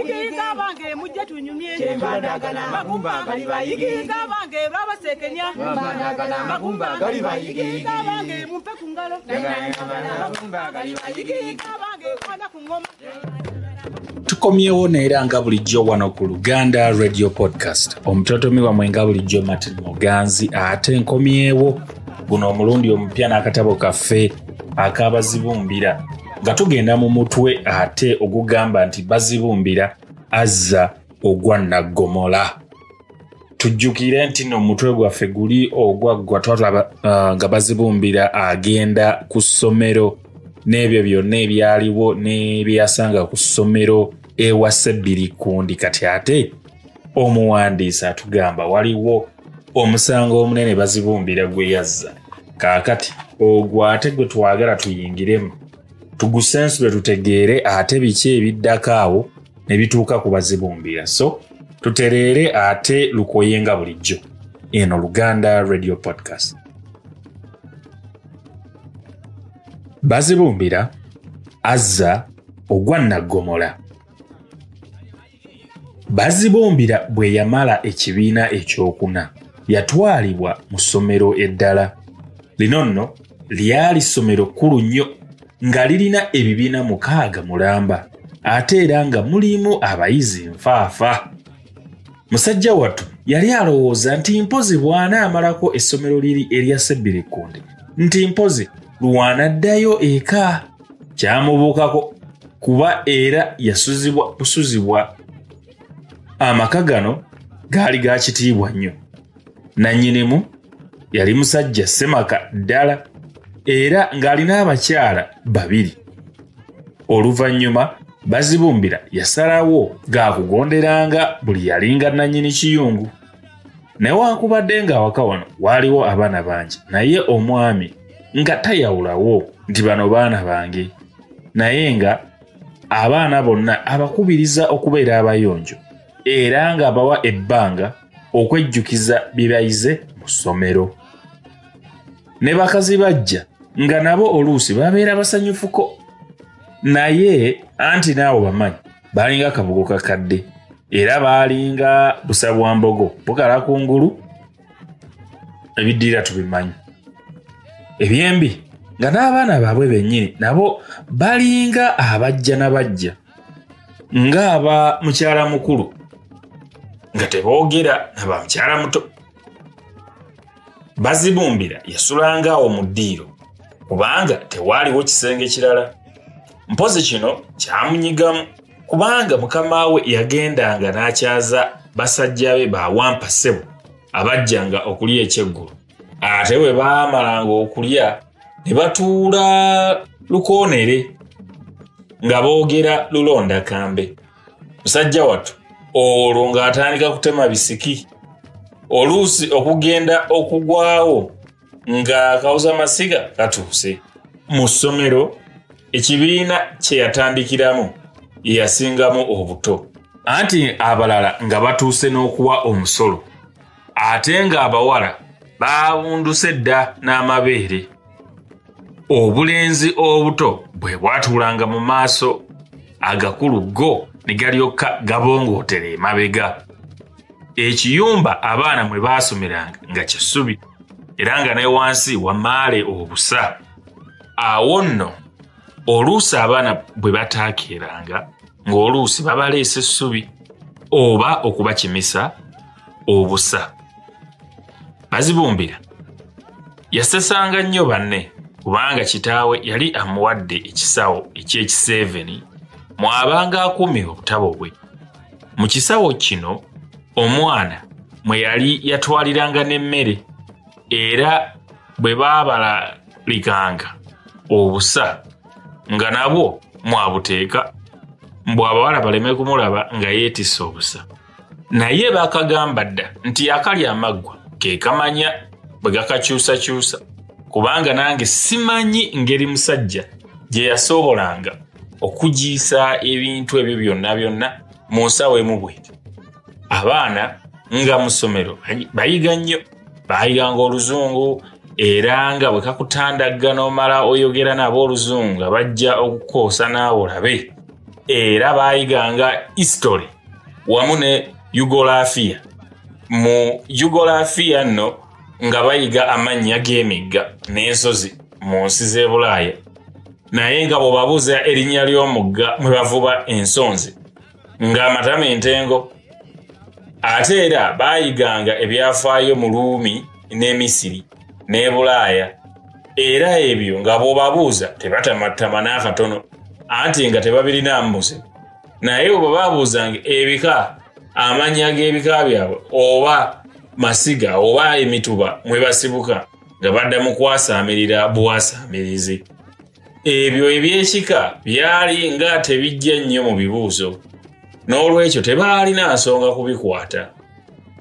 Yigiyiga abange mujje tunyumye kyembandagana magumba gali bayigiyiga abange babasekenya mbandagana magumba gali bayigiyiga abange mumpe ku ngalo magumba gali bayigiyiga abange kwana ku ngoma tukomyewo neera nga bulijjo wano ku luganda radio podcast omutotomi wamwe nga bulijjo martin muganzi ate nkomyewo guno omulundi omupya n'akatabo kaffe akabazibumbira nga tugenda mu mutwe ate ogugamba nti bazibumbira azza ogwa naggomola tujjukire nti no omutwe gwaffe guli ogwaggwa twatulaba uh, nga bazibumbira agenda ku ssomero n'ebyo byonna ebyaliwo n'ebyeyasanga ku ssomero ewa sebbiri kundi kati ate omuwandiisi atugamba waliwo omusango omunene bazibumbira gwe yazza kaakati ogwo ate gwe twagala tuyingiremu tugusensule tutegeere ate biki ebiddako awo ne bituuka ku bazibumbira so tutereere ate lukoye nga bulijjo eno luganda radio podcast bazibumbira azza ogwa naggomola Bazibumbira bwe yamala ekibiina ekyokuna yatwalibwa mu ssomero eddala. Lino nno lyali ssomero kkulu nnyo nga lirina ebibiina mukaaga mulamba ate era nga mulimu abayizi nfaafa. Musajja wattu yali alowooza nti mpozi bwana amalako essomero liri erya Sebbirikunde nti mpozi lwanaddayo eka. kyamubuukako kuba era yasuzibwa busuzibwa amaka gano gaali ga kitiibwa nnyo nannyinimu yali musajja semaka ddala era ng'alina abakyala babiri oluvannyuma bazibumbira yasalawo gaakugonderanga buli yalinga nannyini kiyungu newankubadde ng'awaka wano waaliwo abaana bangi naye omwami nga tayawulawo nti bano baana bange naye nga abaana bonna abakubiriza okubeera abayonjo era ng'abawa ebbanga okwejjukiza bye bayize mu ssomero ne bakazi bajja nga nabo oluusi babeera basanyufuko naye anti naawo bamanyi baalinga akabugo kakadde era baalinga busa bwa mbogo bukala ku ngulu ebiddirira tubimanyi ebyembi nga n'abaana baabwe bennyini nabo balinga abajja na bajja ng'aba mukyala mukulu nga teboogera naba mukyala muto bazibumbira yasulangaawo mu ddiiro kubanga tewaaliwo kisenge kirala mpozi kino kyamunyigamu kubanga mukama we yagendanga n'akyaza basajja be bawampa ssebo abajjanga okulya ekyeggulu ate bwe baamalanga okulya ne batuula lukoonere nga boogera lulonda kambe musajja wattu olwo ng'atandika kutema bisiki oluusi okugenda okugwawo nga kawuza masiga katuuse mu ssomero ekibiina kye yatandikiramu ye yasingamu obuto anti abalala nga batuuse n'okuwa omusolo ate ng'abawala baawunduse dda n'amabeere obulenzi obuto bwe bwatuulanga mu maaso agakulu go ne galyokka gabongootera emabega ekiyumba abaana mwe baasomeranga nga kisubi era nga ne wansi wamaale obusa awo nno oluusi abaana bwe bataakeeranga ng'oluusi babaleesa essubi oba okubakimisa obusa bazibumbira yasesanga nnyo banne kubanga kitaawe yali amuwadde ekisawo eky'ekiseeveni mw'abanga akuumira obutabo bwe mu kisawo kino omwana mwe yali yatwaliranga n'emmere era bwe baabalalikanga obusa nga nabwo mwabuteeka mbu abawala baleme kumulaba nga yeetisse obusa naye baakagamba dda nti yakalya amaggwa ke kamanya bwe gakakyusakyusa kubanga nange simanyi ngeri musajja gye yasoobolanga okugiisa ebintu ebyo byonna byonna mu nsawo emu bweti abaana nga mu ssomero bayiga nnyo baayiganga oluzungu era nga bwe kakutandagga n'omala oyogera nabo oluzungu nga bajja okukoosa naawe olabe era baayiganga history wamu ne yugolafiya mu jugolafiya nno nga bayiga amannya g'emigga n'ensozi mu nsi z'ebulaaya naye nga bwebabuuza erinnya ly'omugga mwe bavuba ensonzi ng'amatama entengo ate era baayiganga ebyafaayo mu luumi n'emisiri n'ebulaaya era ebyo nga bw'obabuuza tebatamattama n'akatono anti nga tebabirina mbuzi naye oba babuuzanga ebika amannya g'ebika byabwe oba masiga oba emituba mwe basibuka nga badda mu kwasaamirira buwasaamirizi ebyo ebyekika byali nga tebijja nnyo mu bibuuzo n'olwekyo tebaalina nsonga kubikwata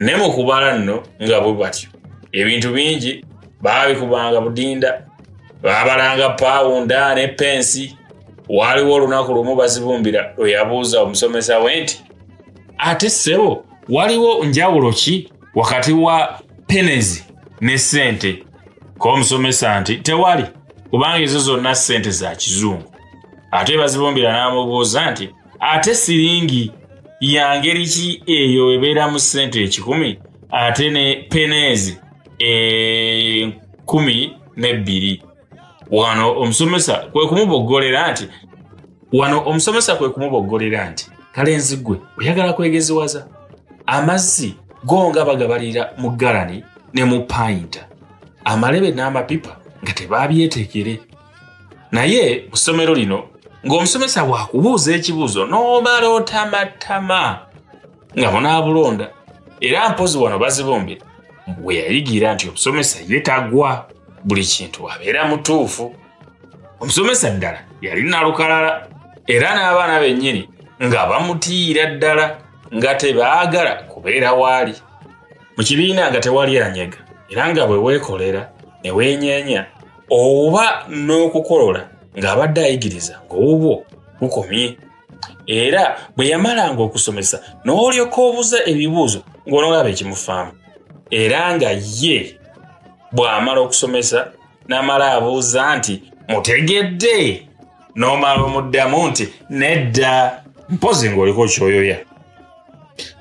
ne mu kubala nno nga bwe batyo ebintu bingi baabikubanga budinda baabalanga paawunda ne pensi waaliwo olunaku lumu bazibumbira lwe yabuuza omusomesa we nti ate ssebo waliwo njawulo ki wakati wa penezi ne ssente k'omusomesa nti tewali kubanga ezo zonna ssente za kizungu ate bazibumbira n'amubuuza nti ate siringi ya ngeri ki eyo ebeera mu ssente ekikumi ate ne penezi enkumi eh, n'ebbiri wano omusomesa kwe kumuboggolera nti wano omusomesa kwe kumuboggolera nti kalenzi gwe oyagala kwegeziwaza amazzi go nga bagabalira mu galani ne mu payinta amalebe n'amapipa nga tebabyetekere naye mu ssomero lino ng'omusomesa wakubuuza ekibuuzo n'omala otamattama nga munaabulonda era mpozi wano bazibumbira bwe yayigira nti omusomesa ye tagwa buli kintu abeera mutuufu omusomesa ddala yali nalukalala era n'abaana bennyini nga bamutiira ddala nga tebaagala kubeera waali mu kibiina nga tewali anyega era nga bwe weekolera ne weenyeenya oba n'okukolola ng'abadde ayigiriza ng'obwo bukomye era bwe yamalanga okusomesa n'olyoka obuza ebibuuzo ng'onolaba ekimufaamu era nga ye bw'amala okusomesa n'amala abuuza nti mutegedde n'omala omuddamu nti nedda mpozi ng'oliko kyoyoya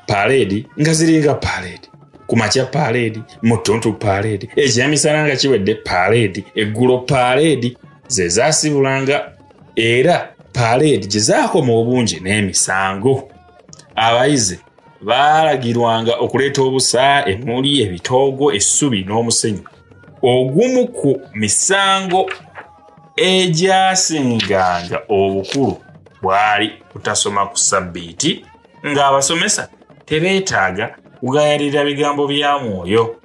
paaleedi nga ziringa paaleedi ku makya paaleedi mu ttuntu paaleedi ekyamisana nga kiwedde paaleedi eggulo paaleedi ze zaasibulanga era paleedi gye zaakoma obungi n'emisango abayizi baalagirwanga okuleeta obusa emuli ebitoogo essubi n'omusenyu ogumu ku misango egyasinganga obukulu bwali kutasoma ku ssabbiiti ng'abasomesa tebeetaaga kugayalira bigambo bya mwoyo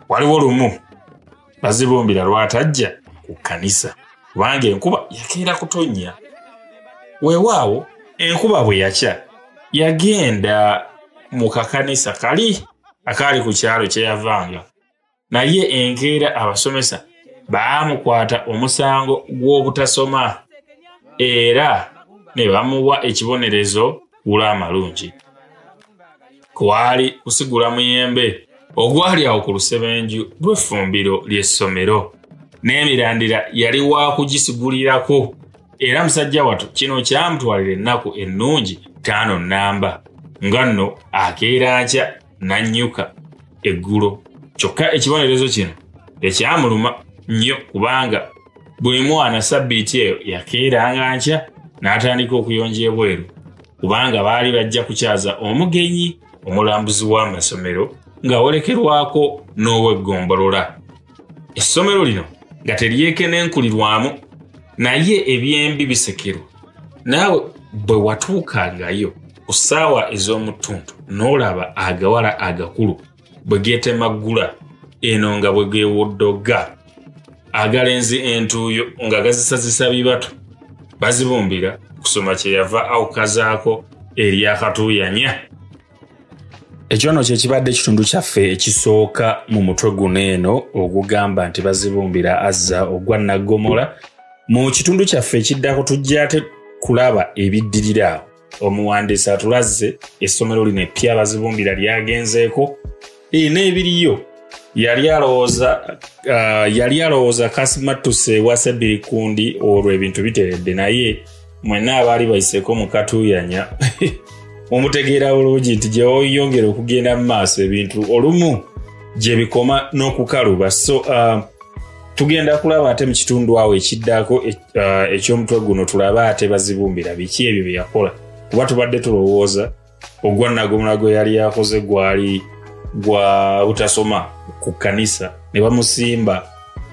waliwo lumu bazibumbira lwatajja ku kkanisa kubanga enkuba yakeera kutonnya weewaawo enkuba bwe yakya yagenda mu kakanisa kali akaali ku kyalo kye yavanga naye enkeera abasomesa baamukwata omusango gw'obutasoma era ne bamuwa ekibonerezo gula amalungi kwali kusigula muyembe ogwali awo ku lusebenju lw'effumbiro ly'essomero n'emirandira yali waakugisigulirako era musajja wattu kino kyamutwalira ennaku ennungi taano nnamba nga nno akeera nkya n'annyuka eggulo kyokka ekibonerezo kino tekyamuluma nnyo kubanga buli mwana sabbiiti eyo yakeeranga nkya n'atandika okuyonja ebweru kubanga baali bajja kukyaza omugenyi omulambuzi w'amasomero ng'awolekerwako n'oweggombolola essomero lino nga teryekenenkulirwamu naye ebyembi bisekerwa naawe bwe watuukangayo ku ssaawa ez'omutuntu n'olaba agawala agakulu bwe geetemaggula eno nga bwe geewoddoga agalenzi entuuyo nga gazisazisa bibatu bazibumbira kusoma kyeyava awukazaako eryakatuuyanya ekyono kyekibadde ekitundu kyaffe ekisooka mu mutwe guno eno ogugamba nti bazibumbira azza ogwa naggomola mu kitundu kyaffe ekiddako tujja ate kulaba ebiddirira omuwandiisi atulaze essomero lino eppya bazibumbira lyagenzeeko Eh, n'ebiriyo yali alowooza ah, yali alowooza kasimattuse ewa sabiri kundi olwo ebintu biteredde naye mwenna abaali bayiseko mukatuuyanya omutegeera bulungi nti gyeoyongera okugenda mu maaso ebintu olumu gye bikoma n'okukaluba so uh, tugenda kulaba ate mu kitundu awo ekiddako uh, eky'omutwe guno tulabe ate bazibumbira biki ebyo bye yakola kuba tubadde tulowooza ogwa nagomula gwe yali yakoze gwali gwa butasoma ku kanisa ne bamusimba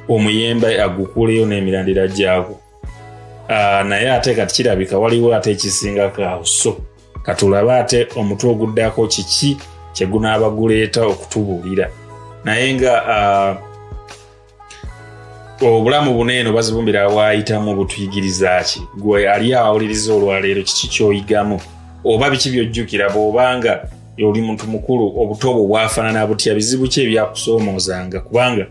omuyembe agukuleyo n'emirandira gyagwo ah, naye ate kati kirabika waliwo ate ekisingako awo so katulabe ate omutwe oguddako kiki kyegunaaba guleeta okutubuulira naye nga uh, obulamu buno eno bazibumbira waayitamu butuyigiriza ki gwe ali awuliriza olwaleero kiki kyoyigamu oba biki byojjukira bwobanga oli muntu mukulu obuto bwo bwafaanana butya bizibu ki ebyakusoomoozanga kubanga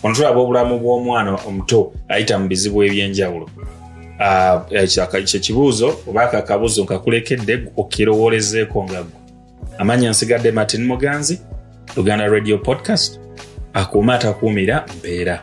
ono tulaba obulamu bw'omwana omuto ayita mu bizibu eby'enjawulo ah, eh, kyekibuuzo oba kakabuuzo nkakulekedde okirowolezeeko nga gwe amanya nsigadde martin muganzi uganda radio podcast akuuma atakuumira mpeera